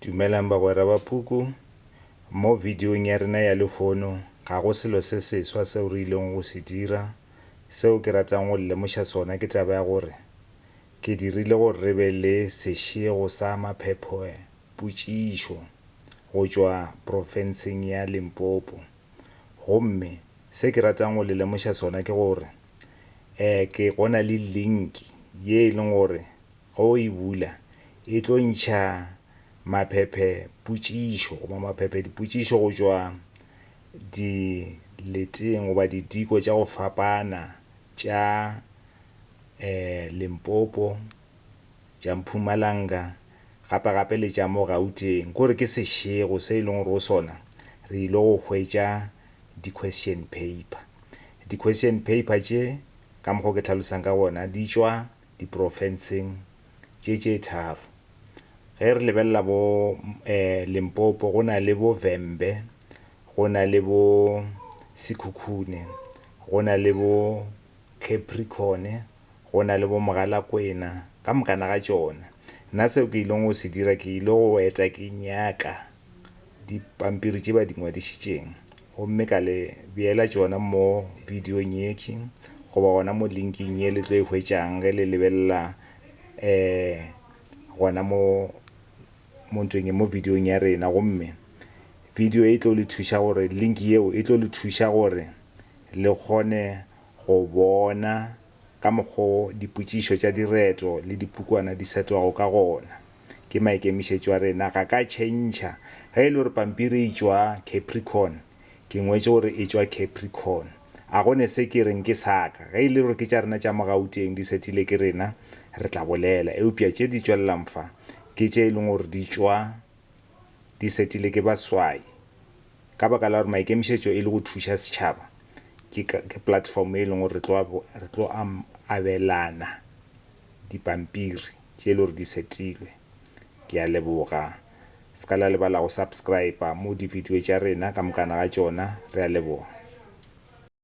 Dumelang bagwera ba Puku. Mo videong ya rena ya lehono, ga go selo se seswa seo re ilego go se dira. Seo ke ratang go le lemoša sona ke taba ya gore ke dirile gore re be le sešego sa maphepho-potšišo go tšwa profenseng ya Limpopo. Gomme se ke ratang go le lemoša sona ke gore, ee, ke go na le linki ye e lego gore Ge o e bula, e tlo ntšha maphephe potšišo goba maphephe dipotšišo go tšwa dileteng goba didiko tša go fapana tša Limpopo, tša Mpumalanga gape gape le tša mo Gauteng. Ke gore ke sešego se e leng gore go sona re ile go hwetša di-question paper. Di-question paper tše ka mokgwa o ke hlalosang ka gona di tšwa diprofenseng tše tše tharo. Ge re lebelela bo Limpopo go na le bo Vhembe, go na le bo Sekhukhune, go na le bo Capricorn, go na le bo Mogalakwena ka mokana ga tšona. Nna seo ke ilego go se dira ke ile go eta ke nyaka dipampiri tše ba di ngwadišitšeng gomme ka le beela tšona mo bidiong yekhwi goba gona mo linking ye le tlo e hwetšang ge le lebelela um gona mo mo ntweng ye mo bidiong ya rena gomme video e tlo le thuša gore link yeo e tlo le thuša gore le kgone go bona ka mokgo dipotšišo tša direto le dipukwana di setwago ka gona. Ke maikemišetšo a rena, ga ka tšhentšha. Ge e le gore pampiri e tšwa Capricorn, ke ngwetše gore e tšwa Capricorn. A go ne se ke reng ke sa ka. Ge e le gore ke tša rena tša mo Gauteng di sethile ke rena, re tla bolela. Eupša tše di tšwelelang fa, ke tše e leng gore di tšwa di setile ke baswai. Ka baka la gore maikemišetšo e le go thuša setšhaba, ke ka, ke platform e leng gore re tlo, re tlo am, abelana dipampiri tše e le gore di setilwe. Ke a leboga. Se ka la lebala go subscriber mo di video tša rena ka mokana ga tšona. Re a leboga.